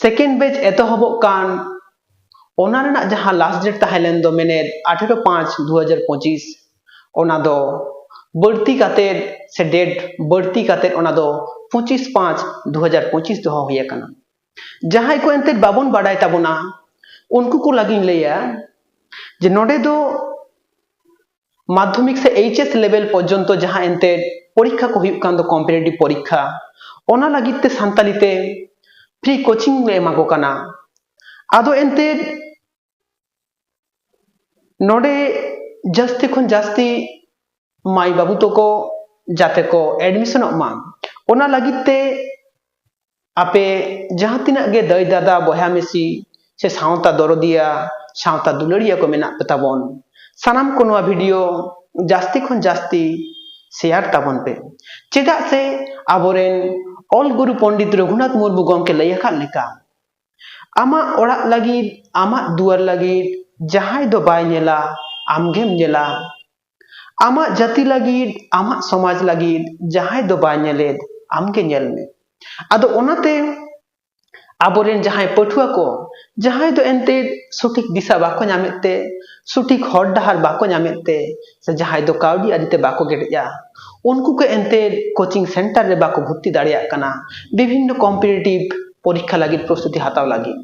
second batch ᱮᱛᱚᱦᱚᱵᱚᱜ ᱠᱟᱱ ᱚᱱᱟ ᱨᱮᱱᱟᱜ ᱡᱟᱦᱟᱸ ᱞᱟᱥᱴ ᱰᱮᱴ ᱛᱟᱦᱮᱸ ᱞᱮᱱ ᱫᱚ ᱢᱮᱱᱮᱫ ᱟᱴᱷᱮᱨᱚ ᱯᱟᱸᱪ ᱫᱩ ᱦᱟᱡᱟᱨ ᱯᱚᱸᱪᱤᱥ ᱚᱱᱟ ᱫᱚ ᱵᱟᱹᱲᱛᱤ ᱠᱟᱛᱮᱫ ᱥᱮ ᱰᱮᱴ ᱵᱟᱹᱲᱛᱤ ᱠᱟᱛᱮᱫ ᱚᱱᱟ ᱫᱚ ᱯᱚᱸᱪᱤᱥ ᱯᱟᱸᱪ ᱫᱩ ᱦᱟᱡᱟᱨ ᱯᱚᱸᱪᱤᱥ ᱫᱚᱦᱚ ᱦᱩᱭ ᱟᱠᱟᱱᱟ ᱡᱟᱦᱟᱸᱭ ᱠᱚ ᱮᱱᱛᱮᱫ ᱵᱟᱵᱚᱱ ᱵᱟᱰᱟᱭ ᱛᱟᱵᱚᱱᱟ ᱩᱱᱠᱩ ᱠᱚ ᱞᱟᱹᱜᱤᱫ ᱞᱟᱹᱭᱟ ᱡᱮ ᱱᱚᱰᱮ ᱫᱚ ᱢᱟᱫᱽᱫᱷᱚᱢᱤᱠ ᱥᱮ ᱮᱭᱤᱪ ᱮᱥ ᱞᱮᱵᱮᱞ ᱯᱚᱨᱡᱚᱱᱛᱚ ᱡᱟᱦᱟᱸ ᱮᱱᱛᱮᱫ ᱯᱚᱨᱤᱠᱠᱷᱟ ᱠᱚ ᱦᱩᱭᱩᱜ ᱠᱟᱱ ᱫᱚ ᱠᱚᱢᱯᱤᱴᱮᱴᱤᱵᱷ ᱯᱚᱨᱤᱠᱠᱷᱟ ᱚᱱᱟ ᱞᱟᱹᱜᱤᱫ ᱛᱮ ᱥᱟᱱᱛᱟᱲᱤ ᱛᱮ ᱯᱷᱨᱤ ᱠᱳᱪᱤᱝ ᱞᱮ ᱮᱢᱟ ᱠᱚ ᱠᱟᱱᱟ ᱟᱫᱚ ᱮᱱᱛᱮᱫ ᱱᱚᱰᱮ ᱡᱟᱹᱥᱛᱤ ᱠᱷᱚᱱ ᱡᱟᱹᱥᱛᱤ ᱢᱟᱹᱭ ᱵᱟᱹᱵᱩ ᱛᱟᱠᱚ ᱡᱟᱛᱮ ᱠᱚ ᱮᱰᱢᱤᱥᱚᱱᱚᱜ ᱢᱟ ᱚᱱᱟ ᱞᱟᱹᱜᱤᱫ ᱛᱮ ᱟᱯᱮ ᱡᱟᱦᱟᱸ ᱛᱤᱱᱟᱹᱜ ᱜᱮ ᱫᱟᱹᱭ ᱫᱟᱫᱟ ᱵᱚᱭᱦᱟ ᱢᱤᱥᱤ ᱥᱮ ᱥᱟᱶᱛᱟ ᱫᱚᱨᱚᱫᱤᱭᱟ ᱥᱟᱶᱛᱟ ᱫᱩᱞᱟᱹᱲᱤᱭᱟᱹ ᱠᱚ ᱢᱮᱱᱟᱜ ᱯᱮ ᱛᱟᱵᱚᱱ ᱥᱟᱱᱟᱢ ᱠᱚ ᱱᱚᱣᱟ ᱵᱷᱤᱰᱤᱭᱳ ᱡᱟᱹᱥᱛᱤ ᱠᱷᱚᱱ ᱡᱟᱹᱥᱛᱤ ᱥᱮᱭᱟᱨ ᱛᱟᱵᱚᱱ ᱯᱮ ᱪᱮᱫᱟᱜ ᱥᱮ ᱟᱵᱚᱨᱮᱱ ᱚᱞ ᱜᱩᱨᱩ ᱯᱚᱱᱰᱤᱛ ᱨᱚᱜᱷᱩᱱᱟᱛᱷ ᱢᱩᱨᱢᱩ ᱜᱚᱢᱠᱮ ᱞᱟᱹᱭ ᱟᱠᱟᱫ ᱞᱮᱠᱟ ᱟᱢᱟᱜ ᱚᱲᱟᱜ ᱞᱟᱹᱜᱤᱫ ᱟᱢᱟᱜ ᱫᱩᱣᱟᱹᱨ ᱞᱟᱹᱜᱤᱫ ᱡᱟᱦᱟᱸᱭ ᱫᱚ ᱵᱟᱭ ᱧᱮᱞᱟ ᱟᱢᱜᱮᱢ ᱧᱮᱞᱟ ᱟᱢᱟᱜ ᱡᱟᱹᱛᱤ ᱞᱟᱹᱜᱤᱫ ᱟᱢᱟᱜ ᱥᱚᱢᱟᱡᱽ ᱞᱟᱹᱜᱤᱫ ᱡᱟᱦᱟᱸᱭ ᱫᱚ ᱵᱟᱭ ᱧᱮᱞᱮᱫ ᱟᱢᱜᱮ ᱧᱮᱞ ᱢᱮ ᱟᱫᱚ ᱚᱱᱟᱛᱮ ᱟᱵᱚᱨᱮᱱ ᱡᱟᱦᱟᱸᱭ ᱯᱟᱹᱴᱷᱩᱣᱟᱹ ᱠᱚ ᱡᱟᱦᱟᱸᱭ ᱫᱚ ᱮᱱᱛᱮᱫ ᱥᱚᱴᱷᱤᱠ ᱫᱤᱥᱟᱹ ᱵᱟᱠᱚ ᱧᱟᱢᱮᱫ ᱛᱮ ᱥᱚᱴᱷᱤᱠ ᱦᱚᱨ ᱰᱟᱦᱟᱨ ᱵᱟᱠᱚ ᱧᱟᱢᱮᱫ ᱛᱮ ᱥᱮ ᱡᱟᱦᱟᱸᱭ ᱫᱚ ᱠᱟᱹᱣᱰᱤ ᱟᱹᱨᱤᱛᱮ ᱵᱟᱠᱚ ᱠᱮᱴᱮᱡᱼᱟ ᱩᱱᱠᱩ ᱠᱚ ᱮᱱᱛᱮᱫ ᱠᱳᱪᱤᱝ ᱥᱮᱱᱴᱟᱨ ᱨᱮ ᱵᱟᱠᱚ ᱵᱷᱚᱨᱛᱤ ᱫᱟᱲᱮᱭᱟᱜ ᱠᱟᱱᱟ ᱵᱤᱵᱷᱤᱱᱱᱚ ᱠᱚᱢᱯᱤᱴᱤᱴᱤᱵᱷ ᱯᱚᱨᱤᱠᱠᱷᱟ ᱞᱟᱹᱜᱤᱫ ᱯᱨᱚᱥᱛᱩᱛᱤ ᱦᱟᱛᱟᱣ ᱞᱟᱹᱜᱤᱫ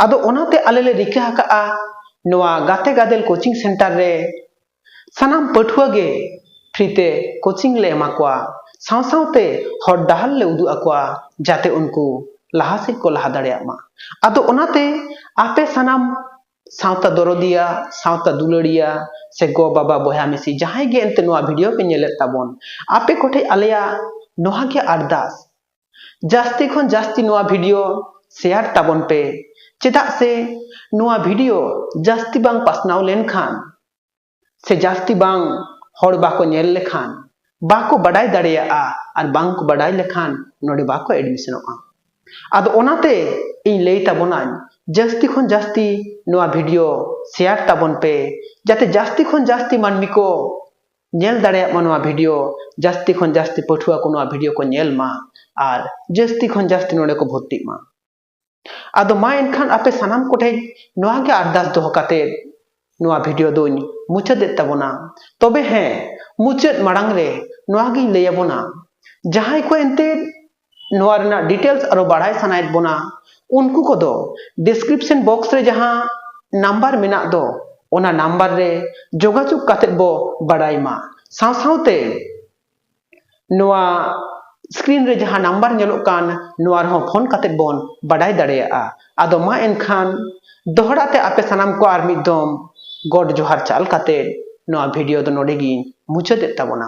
ᱟᱫᱚ ᱚᱱᱟᱛᱮ ᱟᱞᱮ ᱞᱮ ᱨᱤᱠᱟᱹ ᱟᱠᱟᱫᱼᱟ ᱱᱚᱣᱟ ᱜᱟᱛᱮ ᱜᱟᱫᱮᱞ ᱠᱳᱪᱤᱝ ᱥᱮᱱᱴᱟᱨ ᱨᱮ ᱥᱟᱱᱟᱢ ᱯᱟᱹᱴᱷᱩᱣᱟᱹ ᱜᱮ ᱯᱷᱨᱤ ᱛᱮ ᱠᱳᱪᱤᱝ ᱞᱮ ᱮᱢᱟ ᱠᱚᱣᱟ ᱥᱟᱶ ᱥᱟᱶᱛᱮ ᱦᱚᱨ ᱰᱟᱦᱟᱨ ᱞᱮ ᱩᱫᱩᱜ ᱟᱠᱚᱣᱟ ᱡᱟᱛᱮ ᱩᱱᱠᱩ ᱞᱟᱦᱟ ᱥᱮᱫ ᱠᱚ ᱞᱟᱦᱟ ᱫᱟᱲᱮᱭᱟᱜ ᱢᱟ ᱟᱫᱚ ᱚᱱᱟᱛᱮ ᱟᱯᱮ ᱥᱟᱱᱟᱢ ᱥᱟᱶᱛᱟ ᱫᱚᱨᱚᱫᱤᱭᱟ ᱥᱟᱶᱛᱟ ᱫᱩᱞᱟᱹᱲᱤᱭᱟ ᱥᱮ ᱜᱚ ᱵᱟᱵᱟ ᱵᱚᱭᱦᱟ ᱢᱤᱥᱤ ᱡᱟᱦᱟᱸᱭ ᱜᱮ ᱮᱱᱛᱮ ᱱᱚᱣᱟ ᱵᱷᱤᱰᱤᱭᱳ ᱯᱮ ᱧᱮᱞᱮᱫ ᱛᱟᱵᱚᱱ ᱟᱯᱮ ᱠᱚᱴᱷᱮᱱ ᱟᱞᱮᱭᱟᱜ ᱱᱚᱣᱟ ᱜᱮ ᱟᱨᱫᱟᱥ ᱡᱟᱹᱥᱛᱤ ᱠᱷᱚᱱ ᱡᱟᱹᱥᱛᱤ ᱱᱚᱣᱟ ᱵᱷᱤᱰᱤᱭᱳ ᱥᱮᱭᱟᱨ ᱛᱟᱵᱚᱱ ᱯᱮ ᱪᱮᱫᱟᱜ ᱥᱮ ᱱᱚᱣᱟ ᱵᱷᱤᱰᱤᱭᱳ ᱡᱟᱹᱥᱛᱤ ᱵᱟᱝ ᱯᱟᱥᱱᱟᱣ ᱞᱮᱱᱠᱷᱟᱱ ᱥᱮ ᱡᱟᱹᱥᱛᱤ ᱵᱟᱝ ᱦᱚᱲ ᱵᱟᱠᱚ ᱧᱮᱞ ᱞᱮᱠᱷᱟᱱ ᱵᱟᱠᱚ ᱵᱟᱰᱟᱭ ᱫᱟᱲᱮᱭᱟᱜᱼᱟ ᱟᱨ ᱵᱟᱝ ᱠᱚ ᱵᱟᱰᱟᱭ ᱞᱮᱠᱷᱟᱱ ᱱᱚᱰᱮ ᱵᱟᱠᱚ ᱮᱰᱢᱤᱥᱚᱱᱚᱜᱼᱟ ᱟᱫᱚ ᱚᱱᱟᱛᱮ ᱤᱧ ᱞᱟᱹᱭ ᱛᱟᱵᱚᱱᱟᱹᱧ ᱡᱟᱹᱥᱛᱤ ᱠᱷᱚᱱ ᱡᱟᱹᱥᱛᱤ ᱱᱚᱣᱟ ᱵᱷᱤᱰᱤᱭᱳ ᱥᱮᱭᱟᱨ ᱛᱟᱵᱚᱱ ᱯᱮ ᱡᱟᱛᱮ ᱡᱟᱹᱥᱛᱤ ᱠᱷᱚᱱ ᱡᱟᱹᱥᱛᱤ ᱢᱟᱹᱱᱢᱤ ᱠᱚ ᱧᱮᱞ ᱫᱟᱲᱮᱭᱟᱜ ᱢᱟ ᱱᱚᱣᱟ ᱵᱷᱤᱰᱤᱭᱳ ᱡᱟᱹᱥᱛᱤ ᱠᱷᱚᱱ ᱡᱟᱹᱥᱛᱤ ᱯᱟᱹᱴᱷᱩᱣᱟᱹ ᱠᱚ ᱱᱚᱣᱟ ᱵᱷᱤᱰᱤᱭᱳ ᱠᱚ ᱧᱮᱞ ᱢᱟ ᱟᱨ ᱡᱟᱹᱥᱛᱤ ᱠᱷᱚᱱ ᱡᱟᱹᱥᱛᱤ ᱱᱚᱰᱮ ᱠᱚ ᱵᱷᱚᱨᱛᱤᱜ ᱢᱟ ᱟᱫᱚ ᱢᱟ ᱮᱱᱠᱷᱟᱱ ᱟᱯᱮ ᱥᱟᱱᱟᱢ ᱠᱚᱴᱷᱮᱡ ᱱᱚᱣᱟ ᱜᱮ ᱟᱨᱫᱟᱥ ᱫᱚᱦᱚ ᱠᱟᱛᱮ ᱱᱚᱣᱟ ᱵᱷᱤᱰᱤᱭᱳ ᱫᱚᱧ ᱢᱩᱪᱟᱹᱫᱮᱫ ᱛᱟᱵᱚᱱᱟ ᱛᱚᱵᱮ ᱦᱮᱸ ᱢᱩᱪᱟᱹᱫ ᱢᱟᱲᱟᱝ ᱨᱮ ᱱᱚᱣᱟ ᱜᱤᱧ ᱞᱟᱹᱭ ᱟᱵᱚᱱᱟ ᱡᱟᱦᱟᱸᱭ ᱠᱚ ᱮᱱᱛᱮᱫ ᱱᱚᱣᱟ ᱨᱮᱱᱟᱜ ᱰᱤᱴᱮᱞᱥ ᱟᱨᱚ ᱵᱟᱲᱟᱭ ᱥᱟᱱᱟᱭᱮᱫ ᱵᱚᱱᱟ ᱩᱱᱠᱩ ᱠᱚᱫᱚ ᱰᱤᱥᱠᱨᱤᱯᱥᱚᱱ ᱵᱚᱠᱥ ᱨᱮ ᱡᱟᱦᱟᱸ ᱱᱟᱢᱵᱟᱨ ᱢᱮᱱᱟᱜ ᱫᱚ ᱚᱱᱟ ᱱᱟᱢᱵᱟᱨ ᱨᱮ ᱡᱳᱜᱟᱡᱳᱜᱽ ᱠᱟᱛᱮᱫ ᱵᱚ ᱵᱟᱲᱟᱭ ᱢᱟ ᱥᱟᱶ ᱥᱟᱶᱛᱮ ᱱᱚᱣᱟ ᱥᱠᱨᱤᱱ ᱨᱮ ᱡᱟᱦᱟᱸ ᱱᱟᱢᱵᱟᱨ ᱧᱮᱞᱚᱜ ᱠᱟᱱ ᱱᱚᱣᱟ ᱨᱮᱦᱚᱸ ᱯᱷᱳᱱ ᱠᱟᱛᱮᱫ ᱵᱚᱱ ᱵᱟᱰᱟᱭ ᱫᱟᱲᱮᱭᱟᱜᱼᱟ ᱟᱫᱚ ᱢᱟ ᱮᱱᱠᱷᱟᱱ ᱫᱚᱦᱲᱟ ᱛᱮ ᱟᱯᱮ ᱥᱟᱱᱟᱢ ᱠᱚ ᱟᱨ ᱢᱤᱫ ᱫᱚᱢ ᱜᱚᱰ ᱡᱚᱦᱟᱨ ᱪᱟᱞ ᱠᱟᱛᱮᱫ ᱱᱚᱣᱟ ᱵᱷᱤᱰᱤᱭᱳ ᱫᱚ ᱱᱚᱰᱮ ᱜᱤᱧ ᱢᱩᱪᱟᱹᱫᱮᱫ ᱛᱟᱵᱚᱱᱟ